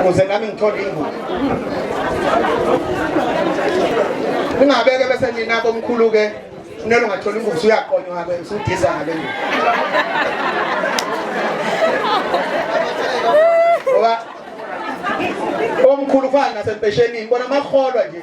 ukuze nami ngithole ingubo ningabeke bese nina bomkhulu-ke nelo ungatholi ingubo usuyaqonywa-ke usudisa ngale ngubo ngoba omkhulu kufana nasempeshenini bona amaholwa nje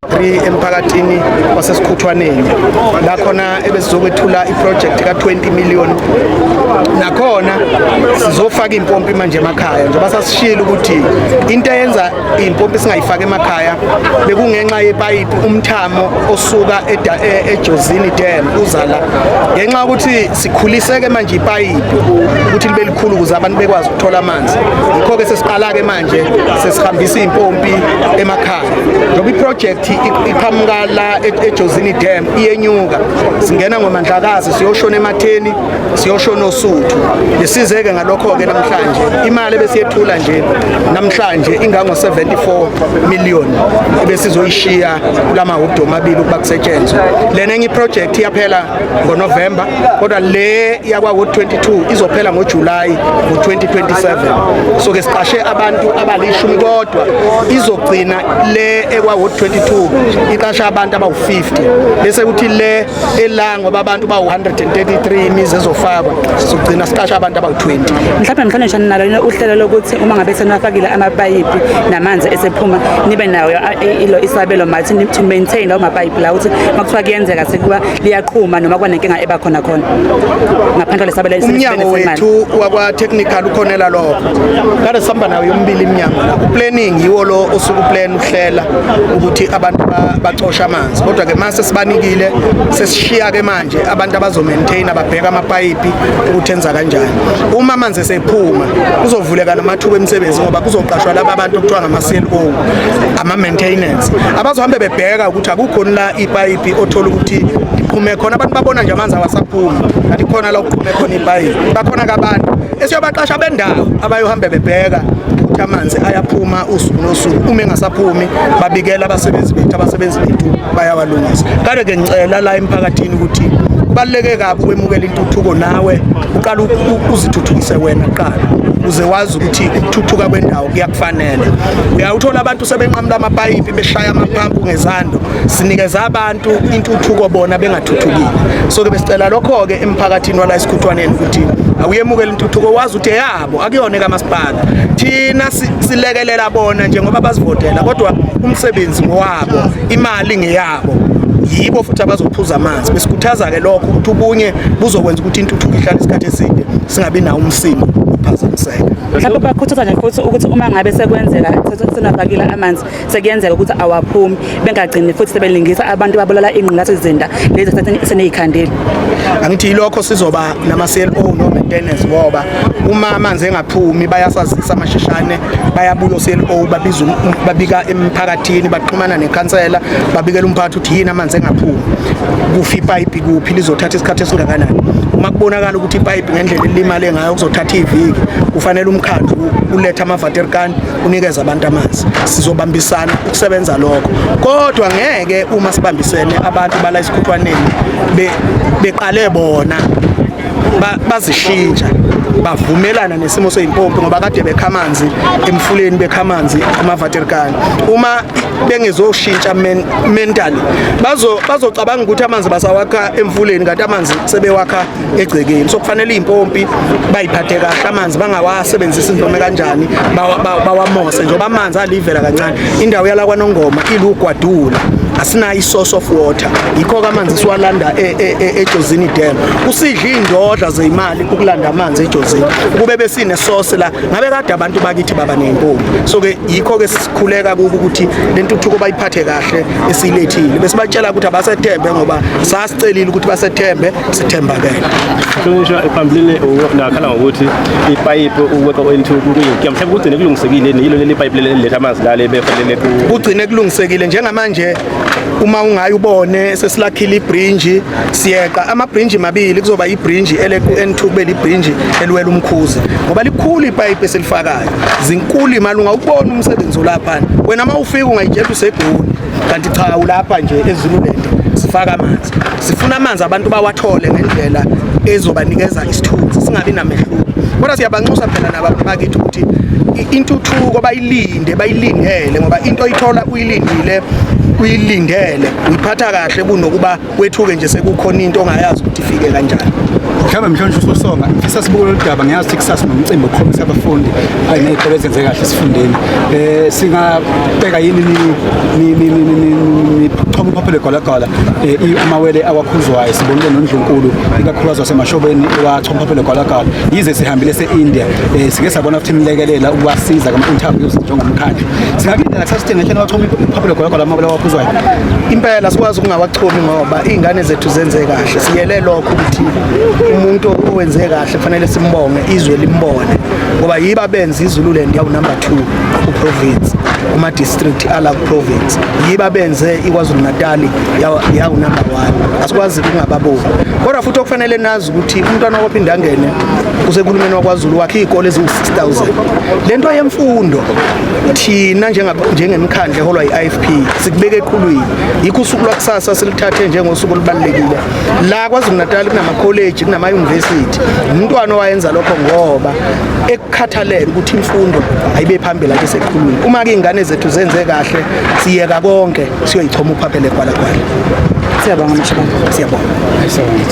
3 emphakathini wasesikhuthwaneni lakhona ebesizokwethula iproject ka-20 million nakhona sizofaka impompi manje emakhaya njengoba sasishilo ukuthi into eyenza impompi singayifaki emakhaya bekungenxa yepayipi umthamo osuka e-, ejozini dam uzala ngenxa yokuthi sikhuliseke manje ipayipi ukuthi libe likhulu ukuze abantu bekwazi ukuthola amanzi yikho-ke sesiqala-ke manje sesihambisa iy'mpompi emakhaya njengoba iprojekthi iqhamuka la e-, ejozini dam iyenyuka singena ngomandlakazi siyoshona ematheni siyoshona osuthu besizeke ngalokho-ke namhlanje imali ebesiyethula nje namhlanje ingango-74 million ebesizoyishiya kula mahobdi omabili ukuba kusetshenzwe lena enye iprojekthi iyaphela ngoNovember kodwa le yakwa 22 izophela ngoJuly ngo-2027 so ke siqashe abantu abalishumi kodwa izogcina le ekwa 22 iqasha abantu abawu-50 bese kuthi le ela ngoba abantu bawu-133 imizi ezofakwa sizogcina siqasha abantu abawu-20 mhlawumbe mhlonishani nalo uhlelo lokuthi uma ngabe senafakile amapayipi namanzi esephuma nibe nayo isabelo mathi to maintain lawo mapayipi la ukuthi makuthiwa kuyenzeka sekuba liyaqhuma noma kuba nenkinga eba khona khona ngaphandle kwalesabela umnyango wethu wakwa-technical ukhonela lokho kade sihamba nayo yomibili iminyango la uplanning yiwo lo osuke uplan uhlela ukuthi abantu bacoshe amanzi kodwa-ke mase sibanikile sesishiya-ke manje nje abantu abazomaintaina babheka amapayipi ukuthi enza kanjani uma amanzi esephuma kuzovuleka namathuba emisebenzi ngoba kuzoqashwa laba abantu okuthiwa ngama-clo ama-maintenance abazohambe bebheka ukuthi akukhoni la ipayipi othola ukuthi iqhume khona abantu babona nje amanzi awasaphumi kanti khona la okuqhume khona ipayipi bakhona kabantu esiyobaqasha bendawo abayohambe bebheka ukuthi amanzi ayaphuma usuku nosuku uma engasaphumi babikela abasebenzi bethu abasebenzi bethu bayawalungisa kade ke ngicela la emphakathini ukuthi kubaluleke kabi ukwemukela intuthuko nawe uqala uzithuthukise wena kuqala uze wazi ukuthi ukuthuthuka kwendawo kuyakufanele uyawuthola abantu sebenqamula amapayipi beshaya amaphampu ngezando sinikeza abantu intuthuko bona bengathuthukile so ke besicela lokho-ke emphakathini wala esikhuthwaneni ukuthi awuyemukele intuthuko wazi ukuthi eyabo akuyona ekamasipala thina silekelela bona njengoba basivotela kodwa umsebenzi ngowabo imali ngeyabo yibo futhi abazophuza amanzi besikhuthaza-ke lokho ukuthi ubunye buzokwenza ukuthi intuthuko ihlale isikhathi eside singabi nawo umsimo ukuphazamiseka mhlawumbe bakhuthaza nje futhi ukuthi uma ngabe sekwenzeka sesingafakile amanzi sekuyenzeka ukuthi awaphumi bengagcini futhi sebelingisa abantu babulala ingqulathi izinda lezi seneyikhandile angithi yilokho sizoba nama cell phone no maintenance ngoba uma amanzi engaphumi bayasazisa amashishane bayabuya cell phone babiza um, um, babika emphakathini baxhumana nekhansela babikela umphathi ukuthi yini amanzi engaphumi kufi ipipe kuphi lizothatha isikhathi esingakanani uma kubonakala ukuthi ipipe ngendlela elimale ngayo kuzothatha iviki kufanele umkhandlu ulethe ama-vaterkan unikeza abantu amanzi sizobambisana ukusebenza lokho kodwa ngeke uma sibambisene abantu bala isikhuthwaneni beqale bona bazishintsha bavumelana nesimo seyimpompi ngoba kade bekha amanzi emfuleni bekha amanzi emaVaterkani uma bengezoshintsha mentally bazo bazocabanga ukuthi amanzi basawakha emfuleni kanti amanzi sebewakha egcekeni so kufanele impompi bayiphathe kahle amanzi bangawasebenzisi noma kanjani bawamose njengoba amanzi alivela kancane indawo yala kwanongoma ilugwadula asinayo isource of water yikho-ke amanzi siwalanda e, e, e, ejozini dam kusidla iy'ndodla zeyimali ukulanda amanzi ejozini kube besinesource la ngabe kade abantu bakithi baba ney'mpompi so-ke yikho-ke sikhuleka kubo ukuthi le ntuthuko bayiphathe kahle esiyilethile besibatshela ukuthi abasethembe ngoba celile ukuthi basethembe sithembakele hlonishwa phambilini nakhala ngokuthi ipayipi ukweqa into kuyinkinga mhlawumbe kugcine kulungisekile yilo leli payipi leli letha amanzi lale befanele kugcine kulungisekile njengamanje uma ungayi ubone sesilakhile ibrinji siyeqa amabrinji mabili kuzoba ibrinji eleku-n2 kube librinji eliwela umkhuzi ngoba likhulu ipayipi esilifakayo zinkulu imali ungawubona umsebenzi olaphana wena uma ufika ungayitshela usegoli kanti cha ulapha nje ezululand sifaka amanzi sifuna amanzi abantu bawathole ngendlela ezobanikeza isithunzi singabi namehluko kodwa siyabanxusa phela nabantu bakithi ukuthi intuthuko bayilinde bayilindele ngoba into oyithola uyilindile uyilindele uyiphatha kahle kunokuba kwethuke nje sekukhona into ongayazi ukuthi ifike kanjani mhlawumbe mhlonje usosonga ngifisa sibuke lolu daba ngiyazi ukuthi kusasa nomcimbi okukhombisa abafundi kanye ney'kole ezenze kahle esifundeni um singabheka yini nichoma uphaphelo egolagala um amawele awakhuzwayo sibonile nondlunkulu ikakhulukazi wasemashobeni wachoma uphaphelo egolagala yize sihambile se-india um sike sabona futhi imlekelela ukubasiza kama-interviews njengomkhandlu singakulindela kuthatha isithenge ehleni wachoma iphaphulo gologo lamabala waphuzwayo impela sikwazi ukungawachumi ngoba iy'ngane zethu zenze kahle siyele lokho ukuthi umuntu owenze kahle kufanele simbonge izwe limbone ngoba yiba benza izululand yawunumber two kuprovince kuma-district ala kuprovince yiba benze ikwazulu-natali yawunumber one asikwazi kungababoni kodwa futhi okufanele nazo ukuthi umntwana waphinde angene kusekulumeni wakwazulu wakhe iy'kole eziwu-6000 le nto yemfundo thina njengemkhandla eholwa i-ifp sikubeke eqhulwini yikho usuku lwakusasa silithathe njengosuku olubalulekile la kwazulu-natali kunamakholeji kunamayunivesithi umntwana owayenza lokho ngoba ekukhathalele ukuthi imfundo ayibe phambili ake seqhulwini uma ke iy'ngane zethu zenze kahle siyeka konke siyoyichoma uphaphele gwalagwala siyabonga mshibana siyabonga